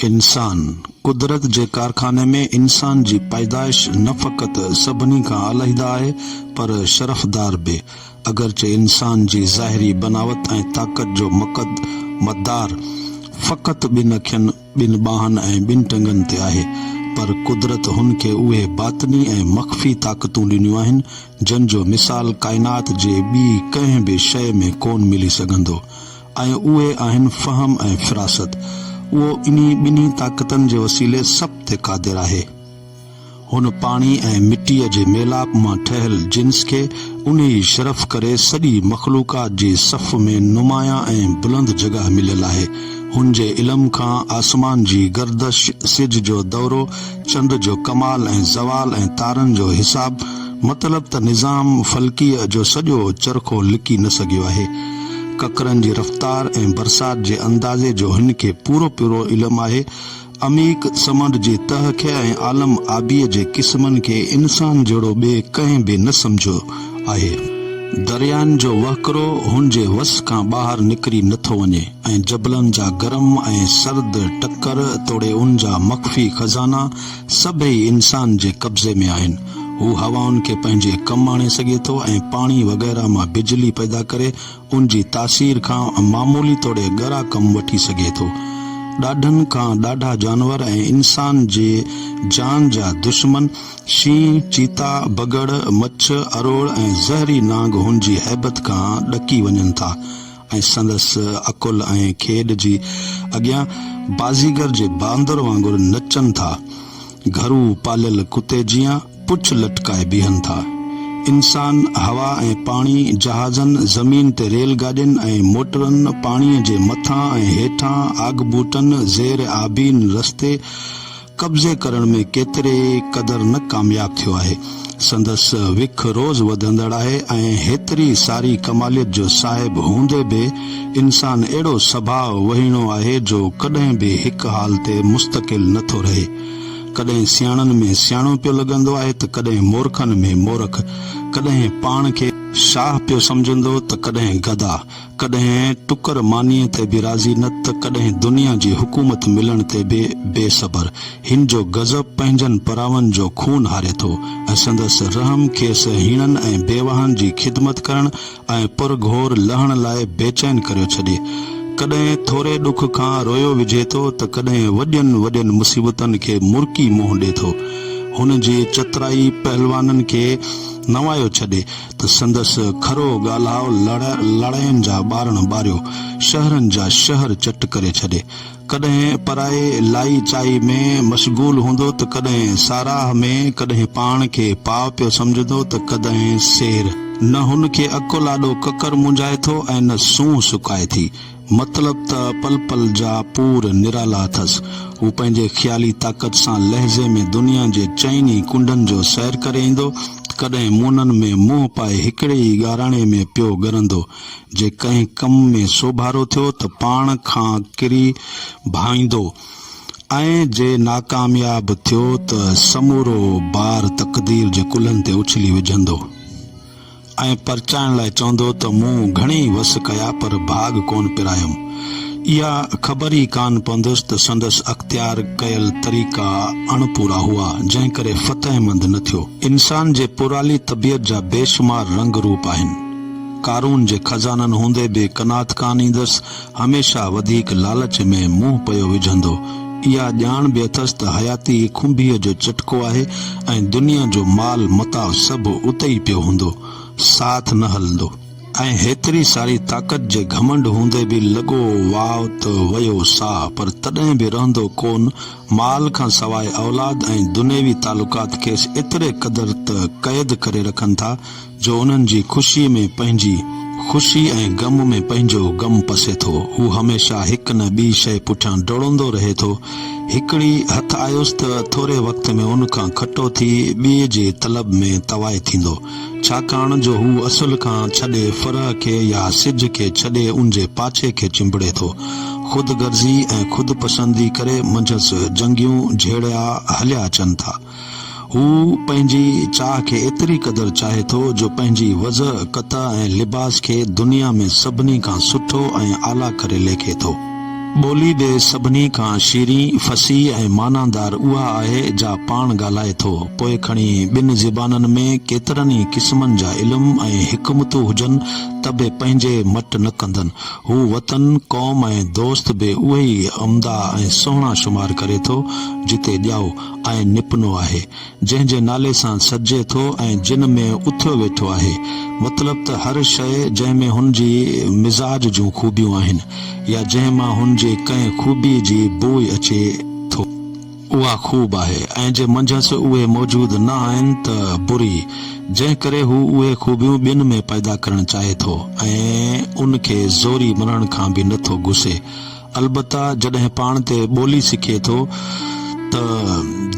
انسان، قدرت جي ڪارخاني ۾ انسان جي پيدائش نه فقط سڀني کان علحده آهي پر شرفدار به. اگرچه انسان جي ظاهري بناوت ۽ طاقت جو مقد مدار فقط ٻن اکين، ٻن ٻانهن ۽ ٻن ٽنگن تي آهي پر قدرت هن کي اهي باطني ۽ مخفي طاقتون ڏنيون آهن جن جو مثال ڪائنات جي ٻي ڪنهن به شيء ۾ ڪون ملي سگهندو. ۽ اهي آهن فهم ۽ فراست. اهو انهي ٻنهي طاقتن جي وسيلي سڀ تي قادر آهي. هن پاڻي ۽ مٽيء جي ميلاپ مان ٺهيل جنس کي انهي شرف ڪري سڄي مخلوقات جي صف ۾ نمايان ۽ بلند جڳهه مليل آهي. هن جي علم کان آسمان جي گردش، سج جو دورو، چنڊ جو ڪمال ۽ زوال ۽ تارن جو حساب مطلب ته نظام فلڪيء جو سڄو چرخو لڪي نه سگهيو آهي. ڪڪرن جي رفتار ۽ برسات جي اندازي جو هن کي پورو پورو علم آهي. عميق سمنڊ جي تهه کي ۽ عالم آبيء جي قسمن کي انسان جهڙو ٻئي ڪنهن به نه سمجهيو آهي. دريائن جو وهڪرو هن جي وس کان ٻاهر نڪري نه ٿو وڃي. ۽ جبلن جا گرم ۽ سرد ٽڪر توڙي ان جا مخفي خزانا سڀئي انسان جي قبضي ۾ آهن. هو هوائن کي پنهنجي ڪم آڻي سگهي ٿو ۽ پاڻي وغيره مان بجلي پيدا ڪري ان جي تاثير کان معمولي توڙي ڳرا ڪم وٺي سگهي ٿو. ڏاڍن کان ڏاڍا جانور ۽ انسان جي جان جا دشمن شينهن، چيتا، بگهڙ، مڇ، اروڙ ۽ زهري نانگ هن جي هيبت کان ڏڪي وڃن ٿا. ۽ سندس عقل ۽ کيڏ جي اڳيان بازيگر جي باندر وانگر نچن ٿا. گهرو پاليل ڪتي جيان پڇ لٽڪائي بيهن ٿا. انسان هوا ۽ پاڻي، جهازن، زمين تي ريل گاڏين ۽ موٽرن، پاڻيء جي مٿان ۽ هيٺان، آگٻوٽن، زير آبين رستي، قبضي ڪرڻ ۾ ڪيتري قدر نه ڪامياب ٿيو آهي. سندس وک روز وڌندڙ آهي ۽ هيتري ساري ڪماليت جو صاحب هوندي به انسان اهڙو سڀاء وهيڻو آهي جو ڪڏهن به هڪ حال تي مستقل نه ٿو رهي. ڪڏهن سياڻن ۾ سياڻو پيو لڳندو آهي ته ڪڏهن مورکن ۾ مورک، ڪڏهن پاڻ کي شاهه پيو سمجهندو ته ڪڏهن گدا، ڪڏهن ٽڪر مانيء تي به راضي نه ته ڪڏهن دنيا جي حڪومت ملڻ تي به بي صبر. هن جو غضب پنهنجن پراون جو خون هاري ٿو ۽ سندس رحم کيس هيڻن ۽ بيواهن جي خدمت ڪرڻ ۽ پر گهور لهڻ لاء بيچين ڪريو ڇڏي. ڪڏهن ٿوري ڏک کان روئيو وجهي ٿو ته ڪڏهن وڏين وڏين مصيبتن کي مرڪي منهن ڏي ٿو. هن جي چترائي پهلوانن کي نوايو ڇڏي. ته سندس کرو ڳالهاء لڙ لڙائين جا ٻارڻ ٻاريو شهرن جا شهر چٽ ڪري ڇڏي. ڪڏهن پرائي لائي چائي ۾ مشغول هوندو ته ڪڏهن ساراهه ۾، ڪڏهن پاڻ کي پاء پيو سمجهندو ته ڪڏهن سير. نه هن کي اڪو لاڏو ڪڪر مونجهائي ٿو ۽ نه سونهن سڪائي ٿي. مطلب ته پل پل جا پور نرالا اٿس. هو پنهنجي خيالي طاقت سان لحظي ۾ دنيا جي چئن ئي ڪنڊن جو سير ڪري ايندو. ڪڏهن مونن ۾ منهن پائي هڪڙي ئي ڳاراڻي ۾ پيو ڳرندو. جي ڪنهن ڪم ۾ سوڀارو ٿيو ته پاڻ کان ڪري ڀائيندو ۽ جي ناڪامياب ٿيو ته سمورو بار تقدير جي ڪلهن تي اڇلي وجهندو. ۽ پرچائڻ لاء چوندو ته مون گهڻي ئي وس ڪيا پر ڀاڳ ڪونه پرايم. اها خبر ئي ڪانه پوندس ته سندس اختيار ڪيل طريقا اڻ پورا هئا، جنهن ڪري فتح مند نه ٿيو. انسان جي پورالي طبيعت جا بيشمار رنگ روپ آهن. قارون جي خزانن هوندي به قناعت ڪانه ايندس، هميشه وڌيڪ لالچ ۾ منهن پيو وجهندو. اها ڄاڻ به اٿس ته حياتي ئي کنڀيء جو چٽڪو آهي ۽ دنيا جو مال متاع سڀ اتي ئي پيو هوندو، ساٿ نه هلندو. ۽ هيتري ساري طاقت جي گهمنڊ هوندي به لڳو واء ته ويو ساهه، پر تڏهن به رهندو ڪون. مال کان سواء اولاد ۽ دنيوي تعلقات کيس ايتري قدر ته قيد ڪري رکن ٿا، جو انهن جي خوشيء ۾ پنهنجي خوشي ۽ غم ۾ پنهنجو غم پسي ٿو. هو هميشه هڪ نه ٻي شيء پٺيان ڊوڙندو رهي ٿو. هڪڙي هٿ آيس ته ٿوري وقت ۾ ان کان کٽو ٿي ٻيء جي طلب ۾ توائي ٿيندو. ڇاڪاڻ جو هو اصل کان ڇڏي فرح کي يا سج کي ڇڏي ان جي پاڇي کي چنبڙي ٿو. خود غرضي ۽ خود پسندي ڪري منجهس جنگيون جهيڙيا هليا اچن ٿا. هو پنهنجي چاهه کي ايتري قدر چاهي ٿو جو پنهنجي وضع، قطع ۽ لباس کي دنيا ۾ سڀني کان سٺو ۽ اعليٰ ڪري ليکي ٿو. ٻولي به سڀني کان شيرين، فصيح ۽ معنيدار اها آهي جا پاڻ ڳالهائي ٿو، پوء کڻي ٻن زبانن ۾ ڪيترن ئي قسمن جا علم ۽ حڪمتون هجن ته به پنهنجي مٽ نه ڪندن. هو وطن، قوم ۽ دوست به اهي ئي عمدا ۽ سهڻا شمار ڪري ٿو، جتي ڄائو. ۽ نپنو آهي، جنهن جي نالي سان سڏجي ٿو ۽ جن ۾ اٿيو ويٺو آهي، مطلب ته هر شيء جنهن ۾ هن جي مزاج جون خوبيون آهن يا جنهن مان هن جي ڪنهن خوبيء جي بوء اچي ٿو، اها خوب آهي ۽ جي منجهس اهي موجود نه آهن ته بري، جنهن ڪري هو اهي خوبيون ٻين ۾ پيدا ڪرڻ چاهي ٿو ۽ ان کي زوري ملڻ کان به نه ٿو گسي. البته جڏهن پاڻ تي ٻولي سکي ٿو ته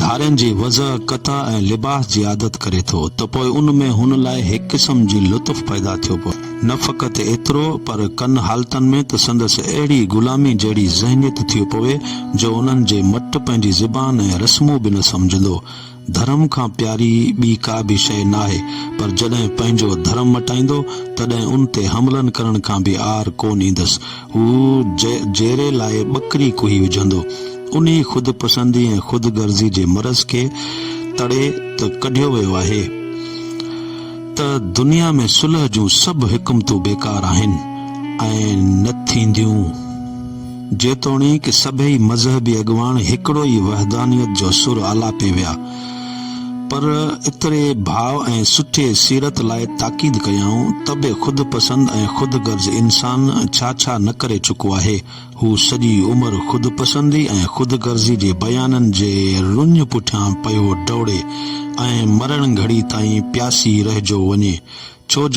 ڌارين جي وضع، قطع ۽ لباس جي عادت ڪري ٿو ته پوء ان ۾ هن لاء هڪ قسم جي لطف پيدا ٿيو پوي. نه فقط ايترو پر ڪن حالتن ۾ ته سندس اهڙي غلامي جهڙي ذهنيت ٿيو پوي جو انهن جي مٽ پنهنجي زبان ۽ رسمون به نه سمجهندو. ڌرم کان پياري ٻي ڪا به شيء ناهي، پر جڏهن پنهنجو ڌرم مٽائيندو، تڏهن ان تي حملن ڪرڻ کان به عار ڪونه ايندس. هو جيري لاء ٻڪري ڪوهي وجهندو. انهي خود پسندي ۽ خود غرضي جي مرض کي تڙي ته ڪڍيو ويو آهي ته دنيا ۾ صلح جون سڀ حڪمتون بيڪار آهن ۽ نه ٿينديون. جيتوڻيڪ سڀئي مذهبي اڳواڻ هڪڙو ئي وحدانيت جو سر آلاپي ويا، پر ايتري ڀاء ۽ سٺي سيرت لاء تاڪيد ڪيائون ته به خود پسند ۽ خود غرض انسان ڇا ڇا نه ڪري چڪو آهي. هو سڄي عمر خود پسندي ۽ خود غرضي جي بيانن جي رڃ پٺيان پيو ڊوڙي ۽ مرڻ گهڙي تائين پياسي رهجو وڃي، ڇو جو.